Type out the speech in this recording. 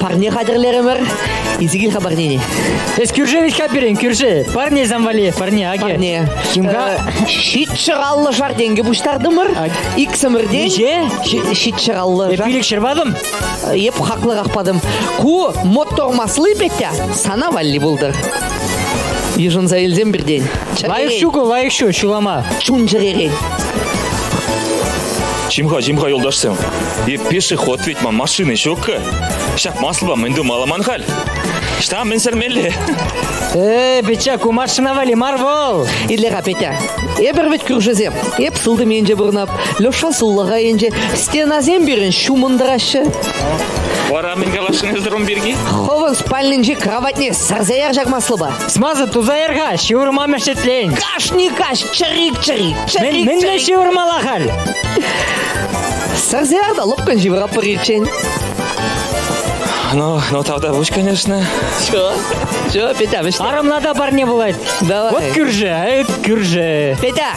Парне хатӗрлерӗмӗр. Изи кил-ха парнене. Эс кӳрше виҫка пирен, кӳрше. Парне замвали, парне, аге. Парне. Химка ҫитчӑраллӑ шар тенкӗ пуҫтартӑмӑр. Иксӗмӗртен Ниҫе? ҫитчӑраллӑ Эп пилӗк ҫырпадым. Эп хаклӑрах падым. Ку мотормасли, Петя, сана валли пултыр. Йышӑнса илсем пиртен. Лайӑх ҫуку, лайӑх ҫу, ҫулама. Чун-чӗререн. Чим-ха, чим-ха, юлташсем, е пешеход ведь ман машины ҫук-ка. Ҫак маслупа мӗн тумалла ман халь? Ҫта мӗн сӗрмелле? Э, Петя, ку машина валли мар вӑл. Илле-ха, Петя. Эпир вӗт кӳршӗсем. Эп сылтӑм енче пурӑнап, Леша суллаха енче стенасем пирӗн ҫумӑнтараҫҫӗ. Вара мӗн каласшӑн эсӗ рум пирки? Хӑвӑн спальнинчи кроватьне сӗрсе ярчак маслупа. Смаза туса яр-ха, ҫывӑрма мешетлен. Кашни каҫ чӗрик-чӗрик, чӗрик-чӗрик. Мӗнле ҫывӑрмалла халь? Сарсеяр та лӑпкӑн ҫывӑратпӑр ирччен. Ну, ну тавда пуҫ, конечно. Чё? Чё, Петя, вӗҫ. Арӑмна та парне пулать. Давай. Вот кӳрши, эт кӳрши. Петя,